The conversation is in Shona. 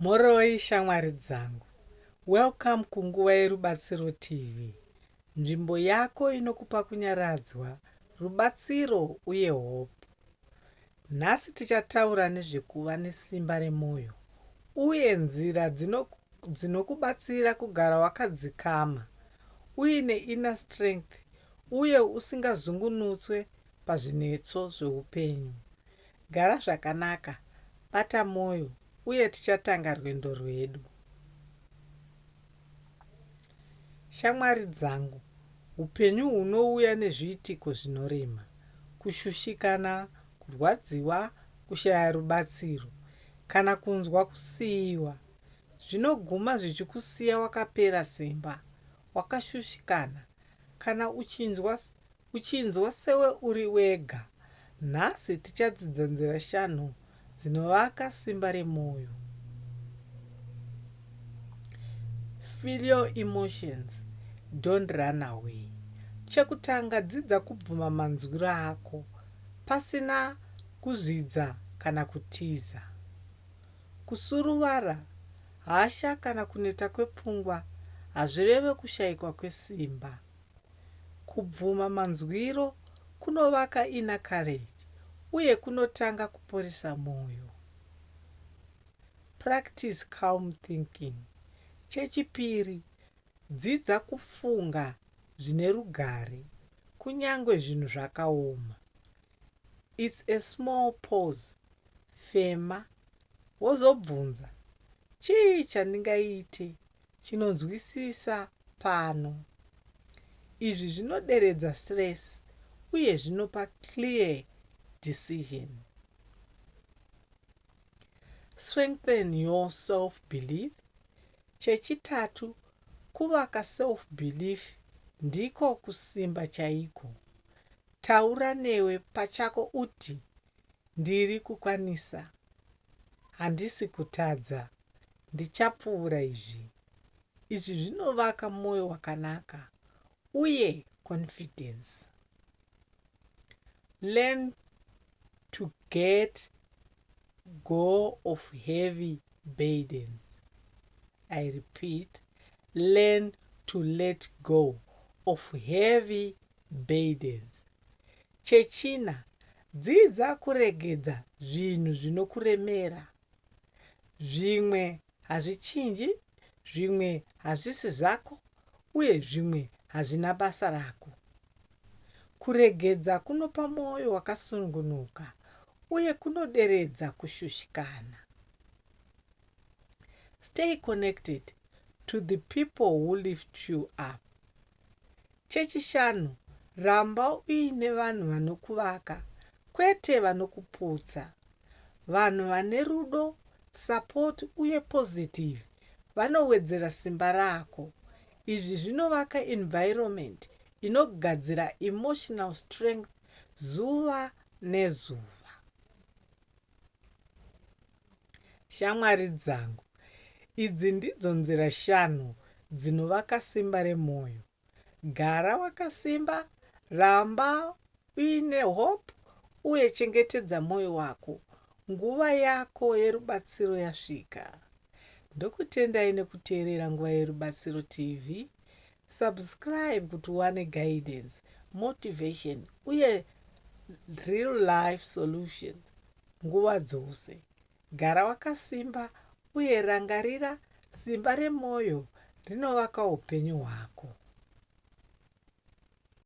Mhoroi shamwari dzangu. Welcome kunguva yeRubatsiro TV, nzvimbo yako inokupa kunyaradzwa, rubatsiro uye hope. Nhasi tichataura nezvekuva nesimba remoyo uye nzira dzinokubatsira kugara wakadzikama, uine inner strength uye usingazungunutswe pazvinetso zveupenyu. Gara zvakanaka, bata mwoyo, uye tichatanga rwendo rwedu. Shamwari dzangu, upenyu hunouya nezviitiko zvinorema, kushushikana, kurwadziwa, kushaya rubatsiro, kana kunzwa kusiiwa. Zvinoguma zvichikusiya wakapera simba, wakashushikana, kana uchinzwa Uchinzwa sewe uri wega? Nhasi tichadzidza nzira shanu dzinovaka simba remwoyo. Feel your emotions, don't run away. Chekutanga, dzidza kubvuma manzwiro ako pasina kuzvidza kana kutiza. Kusuruvara, hasha kana kuneta kwepfungwa hazvireve kushaikwa kwesimba. Kubvuma manzwiro kunovaka inner courage uye kunotanga kuporesa mwoyo. Practice calm thinking. Chechipiri, dzidza kufunga zvine rugare kunyangwe zvinhu zvakaoma. It's a small pause, fema, wozobvunza, Chii chandingaite chinonzwisisa pano. Izvi zvinoderedza stress uye zvinopa clear decision. Strengthen your self belief. Chechitatu, kuvaka self belief ndiko kusimba chaiko. Taura newe pachako uti ndiri kukwanisa, handisi kutadza. Ndichapfuvura izvi. Izvi zvinovaka moyo wakanaka uye confidence. Learn to get go of heavy burdens. I repeat, learn to let go of heavy burdens. Chechina, dzidza kuregedza zvinhu zvinokuremera. Zvimwe hazvichinji, zvimwe hazvisi zvako, uye zvimwe hazvina basa rako. Kuregedza kunopa mwoyo wakasununguka uye kunoderedza kushushikana. Stay connected to the people who lift you up. Chechishanu, ramba uine vanhu vanokuvaka, kwete vanokuputsa. Vanhu vane rudo, support, uye positive vanowedzera simba rako. Izvi zvinovaka environment inogadzira emotional strength zuva nezuva. Shamwari dzangu, idzi ndidzo nzira shanu dzinovaka simba remwoyo. Gara wakasimba, ramba uine hope uye chengetedza mwoyo wako. Nguva yako yerubatsiro yasvika. Ndokutendai nekuteerera Nguva Yerubatsiro TV. Subscribe kuti uwane guidance, motivation uye real life solutions nguva dzose. Gara wakasimba uye rangarira simba remwoyo rinovaka upenyu hwako.